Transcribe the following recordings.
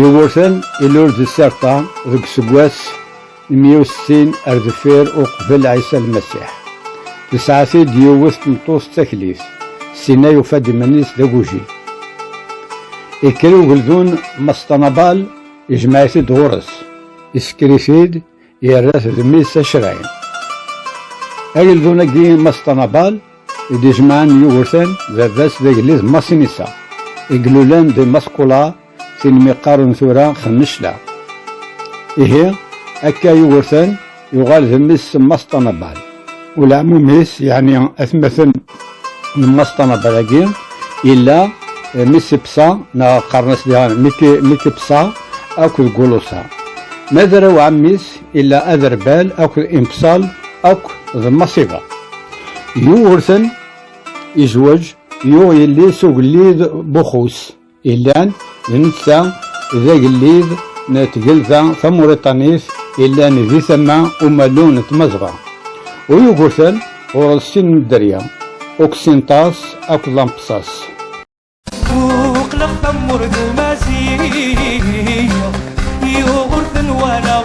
Yugurten ilul di Sirta deg useggas meyya u settin ar deffir uqbel Ɛisa Lmasiḥ. Tesɛa-t-id yiwet tmeṭṭut d taklit, Sina yufa-d iman-is d agujil. Ikker ugeldun Mass Tanabal, ijmeɛ-it-id ɣur-s, isekker-it-id, Yerra-t d mmi-s acray. Ageldun-agi Mass Tanabal i d-ijemɛen Yugurten, baba-s d agellid Mass Inisa, i ilulen di Mass Kula, tin mi qqaren tura Xennecla. Ihi, akka Yugurten yuɣal d mmi-s Mass Tanabal. Ulaɛmum-is, yeɛni atmaten n Mass Tanabadagi yella eh, Missipsa neɣ qqaren-as diɣen Mitipsa akked Gulusa. Ma d arraw ɛemmi-s yella Aderbal akked Impsal akk d Masiba. Yugurten yezweǧ yuɣ yelli-s ugellid Buxus. Ilan d netta d agellid n tgelda tamuriṭanit ilan di tama umalu n tmazɣa u Yugurten ɣur-s sin n dderya, Uksintas akked Lampsas. Squqleɣ tamurt d Maziɣ, Yugurten walaɣ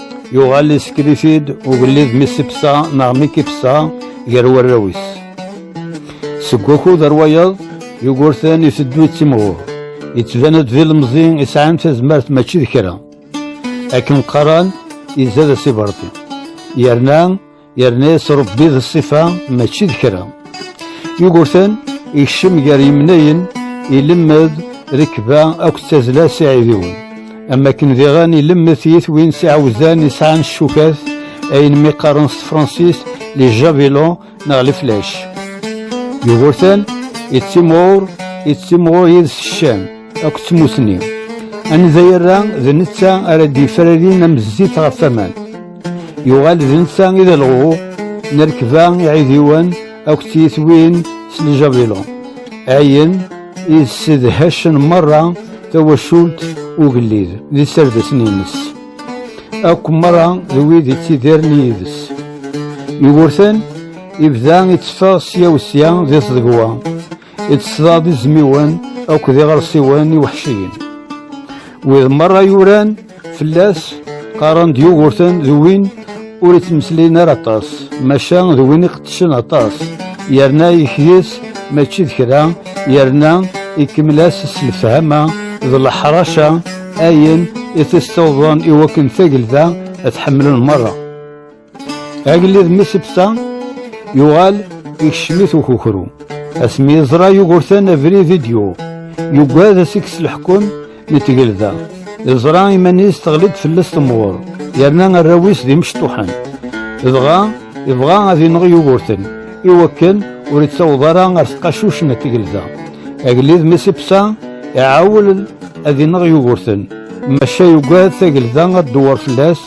Yuɣal yessekrif-id ugellid mi sibsa neɣ mi kifsa gar warraw-is. Seg wakud ar wayeḍ, Yugurten iteddu d timɣur. Yettban-d d ilemẓi isɛan tazmert mačči d kra. Akken qqaran, izad asiberḍi. Yerna yerna yettrebbi d ṣṣifa mačči d kra Yugurten ikcem gar yemnayen ilemmed rekba akked tazzla s iɛidiwen am akken diɣen ilemmed tiyitwin s iɛawzan isɛan ccukat ayen mi qqaren s tefransist les javelons neɣ les flèches Yugurten yettimɣur yettimɣur yid-s ccan akked tmussni. Anida yerra d netta ara d-yefrarin am zzit ɣef waman. Yuɣal d netta i d alɣu n rekba iɛidiwen akked tiyitwin s ljabilu. Ayen i ssedhacen merra tawacult ugellid d iserdasen-nnes. Akk merra d wid yettidiren yid-s. Yugurten ibda itteffeɣ sya u sya d iẓdegwa. Ittesḍaḍ izmiwen akked iɣersiwen iweḥciyen. Wid merra yuran fell-as qqaren-d Yugurten d win ur ittmeslayen ara aṭas, maca d win iqeddcen aṭas, yerna yekdi-s mačči d kra, yerna ikemmel-as s lefhama d leḥraca ayen i t-issiwḍen i wakken tagelda ad t-ḥemmlen merra. Agellid mi sebta yuɣal ikcem-it ukukru. Asmi yeẓra Yugurten abrid i d-yuɣ. Yugad ad s-ikkes leḥkem n tgelda. Yeẓra iman-is teɣli-d fell-as temɣur. Yerna arraw-is d imecṭuḥen. Dɣa yebɣa ad ineɣ Yugurten i wakken ur yettaweḍ ara ar tqacuc n tgelda. Agellid mi sebta iɛawel ad ineɣ Yugurten. Maca yugad tagelda ad d-dewwer fell-as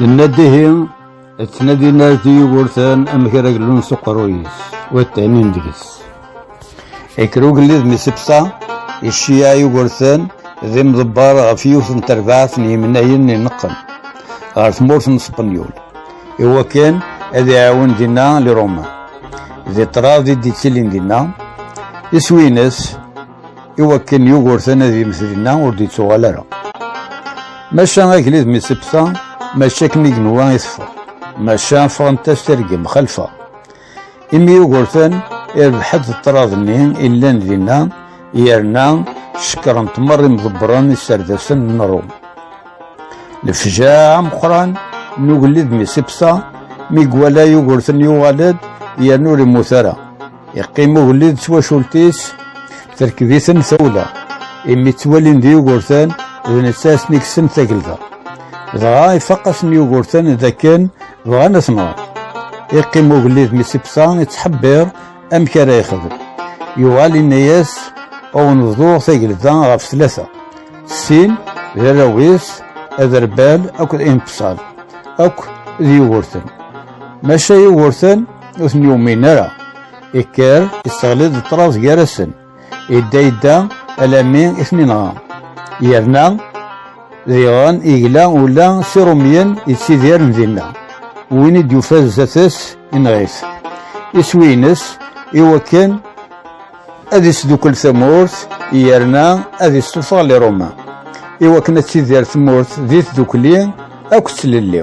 Yenna-d ihi, ttnadin ar d Yugurten amek ara glun s uqerruy-is, wa ttanin deg-s. Ikker ugellid mi sebsa, icciya Yugurten d imḍebber ɣef yiwet n terbaɛt n yimnayen ineqqen ɣer tmurt n Spenyul, iwakken ad iɛawen dinna Liruma. Di ṭṭrad i d-yettilin dinna, iswi-ines i wakken Yugurten ad yemmet dinna ur d-yettuɣal ara. Maca agellid mi tt-ibta, mačči akken i genwa i teffeɣ, maca ffɣent-as tirgem xalfa. Imi Yugurten irbeḥ-d ṭṭrad-nni i llan dinna, yerna cekkren-t merra imḍebbren iserdasen n Ṛum. Lefjaɛ ameqqran n ugellid mi tt-ibta, mi iwala Yugurten yuɣal-d yerna ur immut ara. Yeqqim ugellid d twacult-is, terkeb-iten tawla, imi ttwalin d Yugurten d netta asen-ikksen tagelda. Dɣa ifaq-asen Yugurten d akken bɣan ad ten-ɣen. Yeqqim ugellid mi s-ibsa, yettḥebbiṛ amek ara yexdem. Yuɣal inna-yas, Ad wen-bḍuɣ tagelda ɣef tlata, sin d arraw-is, Aderbal akked Impsal, akk d Yugurten. Maca Yugurten, ur ten-yumin ara ikker isseɣli-d ṭṭrad gar-asen idda idda alami i ten-inɣa yerna diɣen igla ula s irumyen yettidiren dinna win i d-yufa zdat-s inɣit iswi-ines i wakken ad isdukkel tamurt yerna ad issuffeɣ liruma i wakken ad tidir tmurt di tdukli akk d tlelli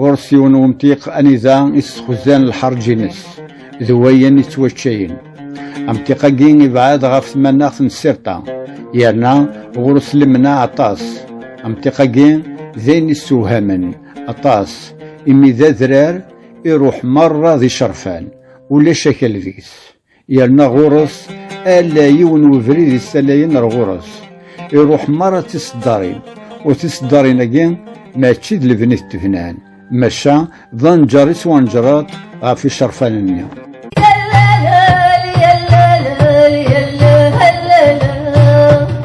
ɣur-s yiwen umtiq anida i s-xuzan lḥerǧ-ines d wayen ittwaččayen amtiq-agi ibɛed ɣef tmanaɣt n sirṭa yerna ɣur-s lemna aṭas amtiq-agi d ayen issewhamen aṭas imi d adrar iruḥ merra d icerfan ulac akal deg-s Yerna ɣur-s ala yiwen webrid yessalayen ar ɣur-s. Iruḥ merra d tiseddarin, u tiseddarin-agi mačči d lebni i t-bnan, maca d anǧer i ttwanǧreḍ ɣef icerfan-nni.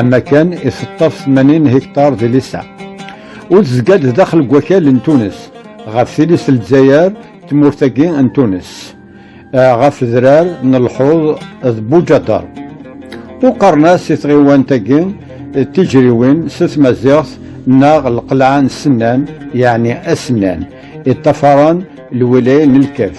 Amakan iseṭṭaf 80 hektar di Lissa. Ur tezga-d daxel n wakal n Tunes, ɣef tilist n Lezzayer, tmurt-agi n Tunes, ɣef drar n lḥuḍ d Buǧadar. Ur qqaren-as i tɣiwant-agi tiǧriwin s tmaziɣt neɣ lqelɛa n Sennan, yeɛni Asennan, iṭṭafaren lwilaya n Lkaf.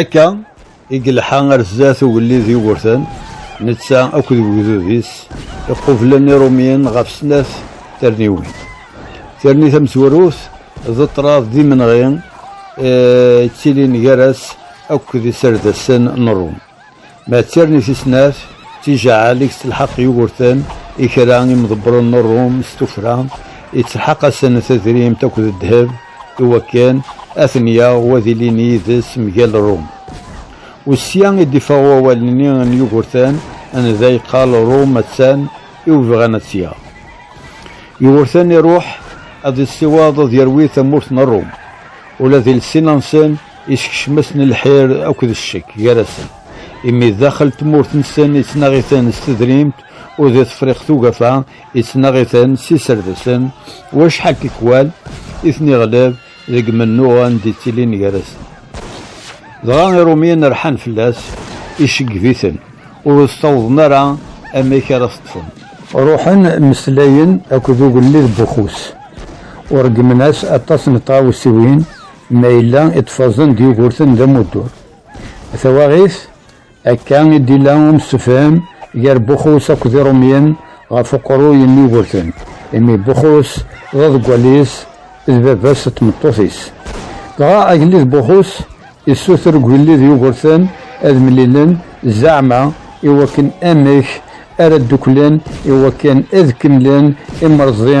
Akka i yelḥa ar zdat ugellid Yugurten, netta akked wegdud-is iqublen Irumyen ɣef snat terniwin. Terni tamezwarut d ṭṭrad d imenɣi yettilin gar-as akked iserdasen n Ṛum. Ma d tirni tis snat, d tijaɛal i yettelḥaq Yugurten i kra n yimḍebbren n Ṛum s tuffra, yettelḥaq-asen tadrimt akked ddheb i wakken ad ten-yaɣ u ad ilin yid-s mgal Ṛum. U sya i d-iffeɣ wawal-nni n Yugurten anda yeqqar Ṛum attan i webɣan ad tt-yaɣ. Yugurten iṛuḥ ad iṣṣiwaḍ ad yerwi tamurt n Ṛum, ula d iles-nsen, Isekcem-asen lḥir akked ccek gar-asen, imi daxel tmurt-nsen ittnaɣ-iten s tedrimt, u di Tefriqt Ugafa ittnaɣ-iten s iserdsen, u acḥal n tikwal i ten-iɣleb deg mennuɣ anda i ttilin gar-asen. Dɣa Irumyen rḥan fell-as, iceggeb-iten, ur as-ttawḍen ara amek ara t-ṭṭfen. Ruḥen mmeslayen akked ugellid Buxus, u ṛeggmen-as aṭas n tɣawsiwin Ma yella iṭṭfazen d Yugurten d amuddur. Tawaɣit, Akka i d-ila umsefhem gar Buxus akked Irumyen ɣef uqerruy n Yugurten, imi Buxus d aḍeggal-is d baba-s d tmeṭṭut-is. Dɣa agellid Buxus yessuter i ugellid Yugurten ad mlilen zeɛma i wakken amek ara dduklen i wakken ad kemmlen imreẓdi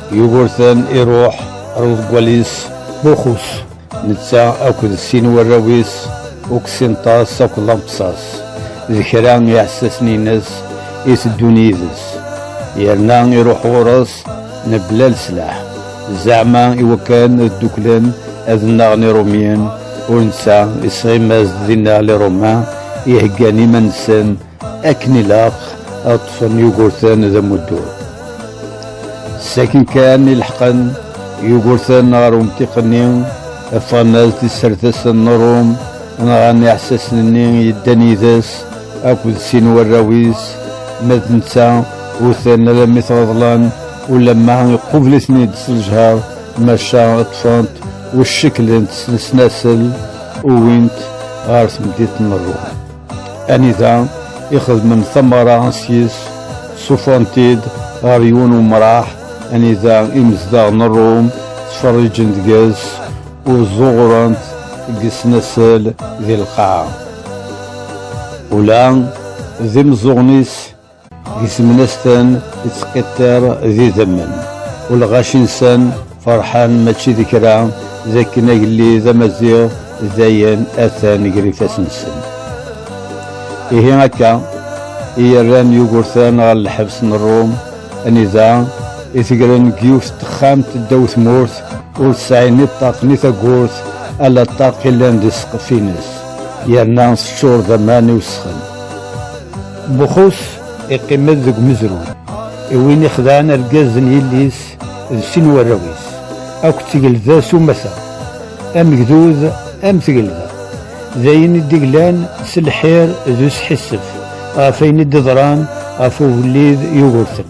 Yugurten iruḥ ar uḍeggal-is Buxus, netta akked sin warraw-is Uksinṭas akked Lampsas, d kra n yiɛessasen-ines i teddun yid-s, yerna iruḥ ɣur-s mebla leslaḥ, zeɛma iwakken ad dduklen ad nnaɣen Irumyen, u netta isɣim-as-d dinna Liruman iheggan iman-nsen akken ilaq ad ṭṭfen Yugurten d amuddur. Sakin kan i leḥqen Yugurten ɣer umtiq-nni, ffɣen ad tisertasen n Ṛum, nɣan iɛessasen-nni yeddan yid-s akked sin warraw-is, ma d netta utan alammi t-reḍlen, ulamma iqubel-iten-id s lejher, maca ṭṭfent u cceklent s lesnasel, uwint ɣer temdint n Ṛum. Anida i xedmen tamara s yis sufan-t-id ɣer yiwen umraḥ anida imezdaɣ n Ṛum ttferriǧen deg-s ur ẓuɣrent deg yesnasel di lqaɛa. Ula d imeẓẓuɣen-is Di temnasten ittqiṭṭir d idammen, ulɣac-nsen ferḥen mačči d kra d akken agellid amaziɣ dayen atan gar ifassen-nsen. Ihi akka i yerran Yugurten ɣer lḥebs n Ṛum, anida i tegren deg yiwet n texxamt ddaw tmurt, ur tesɛi ni ṭṭaq ni tagurt, ala ṭṭaq yellan di ssqef-ines, yerna teččur d aman iwesxen. Buxus iqqim-d deg umezruy i win ixedɛen argaz n yelli-s d sin warraw-is, akk d tgelda s umata, amegdud am tgelda, d ayen i d-glan s lḥir d usḥissef ɣef ayen i d-iḍran ɣef ugellid Yugurten.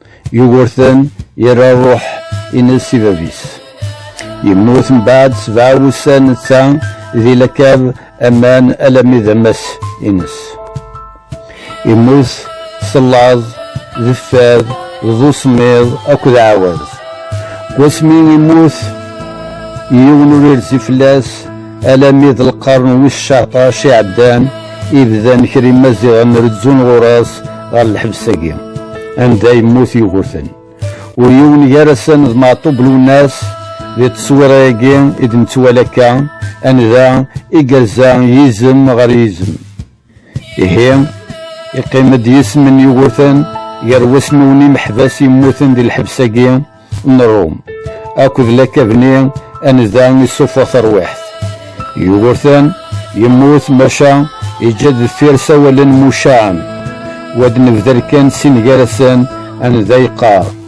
Yugurten yerra ṛṛuḥ ines i bab-is. Yemmut mbeɛd sebɛa wussan netta di lakab aman alami d amas ines. Yemmut s llaẓ, d fad, d usemmiḍ akked ɛawaz. Wasmi yemmut yiwen ur irzi fell-as Alami d lqern wis caṭac iɛeddan ibdan kra imaziɣen rezzun ɣur-as ɣer lḥebs-agi anda yemmut Yugurten. Ur yiwen gar-asen d Maɛṭub Lwennas di tteswira-agi i d-nettwali akka anida i yerza yizem ɣer yizem. Ihi, iqqim-d yisem n yiwutan gar wasnun imeḥbas yemmuten di lḥebs-agi n Ṛum akked lakabni anida issuffeɣ tarwiḥt. Yugurten yemmut maca yeǧǧa deffir sawalen mucaɛen, wa d-nebder kan sin gar-asen anida yeqqar.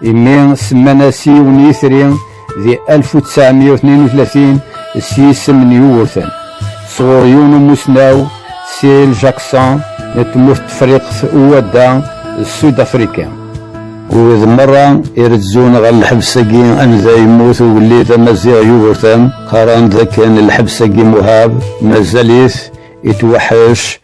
Imi semman-as yiwen n yitri di 1932 s yisem n Yugurten, sɣur yiwen umussnaw Cyril Jackson n tmurt Tefriqt Uwadda d Sud Afrika. Ur merra irezzun ɣer lḥebs-agi anda yemmut ugellid amaziɣ Yugurten, qqaren-d dakken lḥebs-agi Muhab mazal-it itweḥḥec